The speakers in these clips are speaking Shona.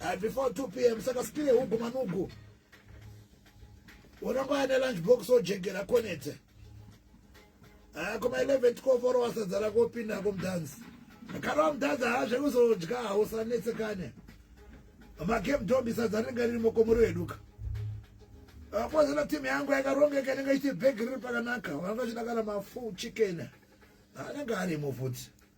uh, before 2 pm saka spire hugu manugu unongoya nelunch box ojegera konete uh, eh, kuma 11 12 oro wasadzara kopinda komdhanzi kana wamdhanzi haa zvekuzodya hausanetsekane magame dombi sadza rinenge riri mokomuri weduka kwazana team yangu yakarongeka inenge ichiti bhegi riri pakanaka vanga chidakana mafu chicken anenge arimo futi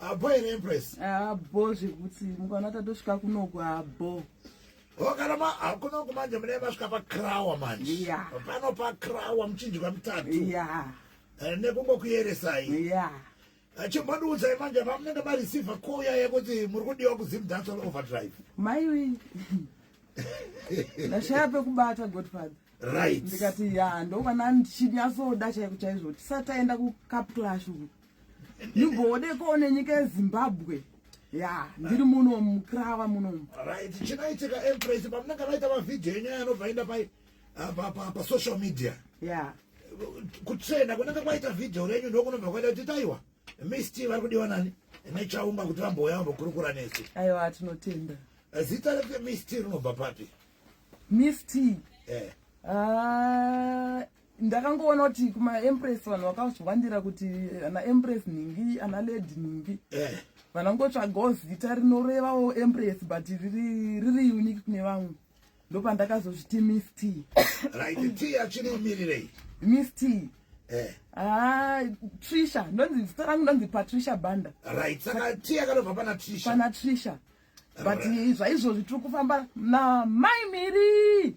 Abo here Empress? Abo zvekuti mukaona tatosvika kunoku abo. Oh, kana ma hakuna kumanje mune masvika pa krawa manje. Yeah. Pano pa krawa muchinjwa mutatu. Yeah. Eh, nekungo kuyeresai. Yeah. chimbandiudza imanje pamunenge mareceiva koya yekuti muri kudiwa kuzimdancel overdrive maiwe ndashaya pekubata godfather right ndikati ya ndovana ndichinyasoda chaiko chaizvo tisataenda kucapclash uku Igodeko nenyika yeZimbabwe. Yeah, ndiri muno mukrava muno. Right, chinaitika empress pamunanga vaita ma video enyaya anobva enda pai ah, pa pa pa social media. Yeah. Kutsvena kunanga kwaita video renyu ndokunobva kwaita kuti taiwa. Misti vari kudiwa nani? Nechaunga kuti vambouya vambokurukura nesu. Aiwa tinotenda. Eh, zita rake Misti rinobva papi? Misti. Eh. Ah, ndakangoona kuti kumaempress vanhu vakazviwandira kuti ana empress nhingi ana lady nhingi eh. vanangotsvagawo zita rinorevawo empress but riri, riri unique kune vamwe ndopandakazozviti miss t right t yachinomirirei miss t Eh. Ah, Trisha, ndonzi zita rangu ndonzi Patricia Banda. Right, saka tea yakanobva pana Trisha. Pana Trisha. But zvaizvozvi tiri kufamba na Mai Miri.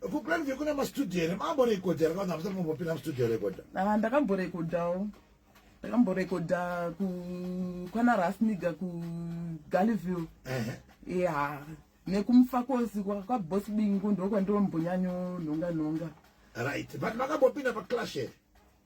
Ku plan view kuna ma studio here mambo recorder kana hamsati mambopinda mu studio recorder? Ah ndakamborekodhawo. Ndakamborekodha ku kwana Rasniga ku Galiville. Eh. Yeah. Nekumfakosi kwa kwa boss bingu ndokwa ndombonyanyo nhonga nhonga. Right. But makambopinda pa clash here?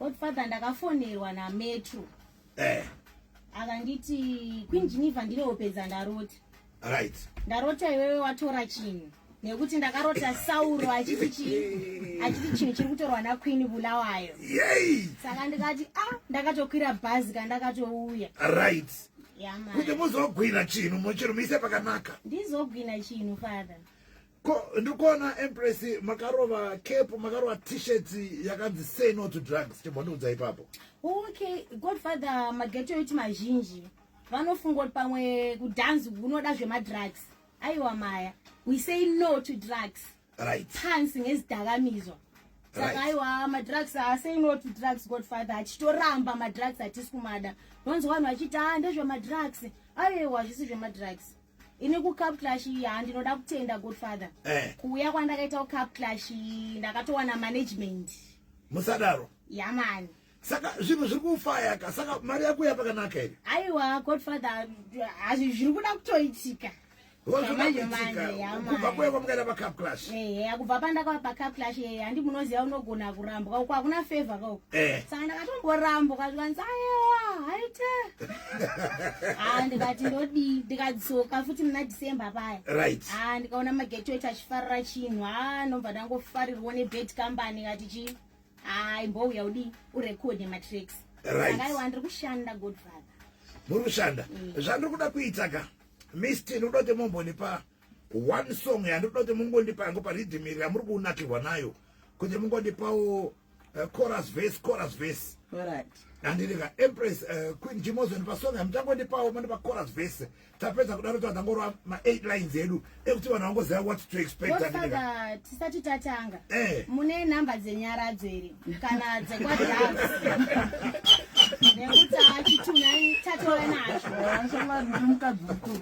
Godfather ndakafonerwa na Metro. Eh. Akanditi Queen Geneva ndine opedza ndarota. Right. Ndarota iwewe watora chinhu. Nekuti ndakarota Sauro achiti chinhu. Achiti chinhu chiri kutorwa na Queen Bulawayo. Yay! Saka ndikati ah ndakatokwira bhazi ka ndakatouya. Right. Yeah man. Kuti muzogwina chinhu mochirumise pakanaka. Ndizogwina chinhu father. ko ndikuona empress makarova cap makarova t-shirt yakanzi say no to drugs chibondiudza ipapo okay godfather mageto yoti mazhinji vanofunga kuti pamwe kudhanzi unoda zvemadrugs aiwa maya we say no to drugs right pansi ngezidakamizwa saka aiwa madrugs asay no to drugs godfather achitoramba madrugs atisi kumada nonzi vanhu vachiti a ah, ndezvemadrugs aiwa zvisi zvemadrugs ini kucup clash ya ndinoda kutenda godfather eh. kuuya kwandakaita kucup clash ndakatowana management musadaro yamani saka zvinhu zviri kufaya ka saka mari yako yapakanaka here aiwa godfather hazvi zviri kuda kutoitika kubva kuya kwamukaita pacup clash ehe kubva pandakava pacup clash ehe handi munoziva unogona kurambwa uko hakuna favor kauko eh. saka ndakatomborambwa zvikanzi ayewa haite ah, ndikati ndodii ndikadzoka futi muna december paya right ah, ndikaona magetwet achifarira chinhu ha ah, nobva ndangofarirwa nebet company kati chii hai mbouya udii urekode matracks right. akaiwa ndiri kushanda godfather muri kushanda mm. zvandiri kuda kuita ka misti ndikuda kuti mumbonipa one song yandikuda kuti mungondipa yangu paridhimiri yamuri kunakirwa nayo kuti mungondipawo uh, chorus verse chorus verse right andiriga empress uh, queen jimozon pasong hamutangondipawo mandipa chorus verse tapedza kudaro tazangorwa ma8 lines edu ekuti vanhu vangoziva what to expect andiriga tisati tatanga eh. mune nhamba dzenyaradzo here kana dzekwadance nekuti achituna tatowe nazvo mukadzi mukuru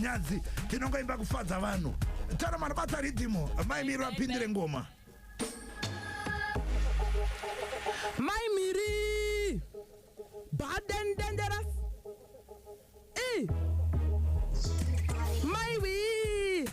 nyadzi tinongoimba kufadza vanhu tara manobata ridhimu mai miri vapindire ngoma mai miri baden dangerous e mai wii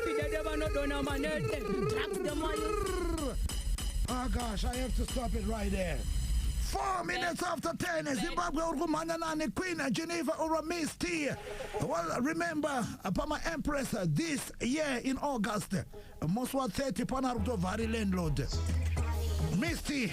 Fidede vanodona manete. Drugs the more you Ah gosh, I have to stop it right there. Four minutes after 10, Zimbabwe uri kumhanya nani Queen Geneva uri Miss T. Well, remember, pama Empress this year in August, musi wa 30 pana ari kutobva ari landlord. Miss T,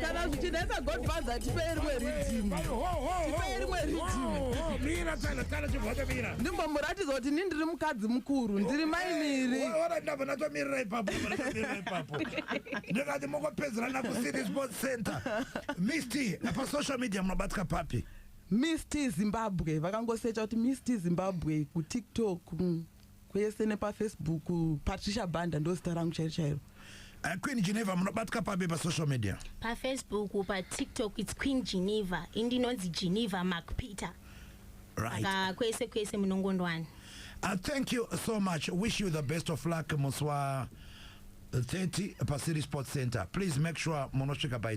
kana zvichinetsa godfather tipei rimwe ridhimu tipei rimwe ridhimu mira tsana tsana chibvacho mira ndimbomuratidza kuti ni ndiri mukadzi mukuru ndiri mai miri ora ndabva natomirira ipapo natomirira ipapo ndikati mokopedzerana kucity sports center misti pasocial media munobatika papi misti zimbabwe vakangosecha kuti misti zimbabwe kutiktok mm. kwese nepafacebook patricia banda ndozita rangu chairo chairo uh, queen geneva munobatika pabe pasocial media pafacebook patiktok its queen geneva indinonzi geneva mark peter right. aka kwese kwese munongondwani uh, thank you so much wish you the best of luck musi wa 30 pacity sports center please make sure munosvika by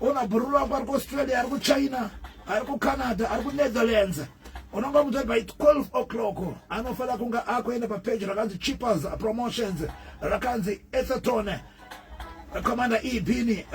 Ona bhuru rako ari kuAustralia, ari kuChina, ari kuCanada, ari kuNetherlands. Unonga mutori by 12 o'clock anofanira kunge akuenda papeji rakanzi Cheapers Promotions rakanzi Etherton Commander Ibini.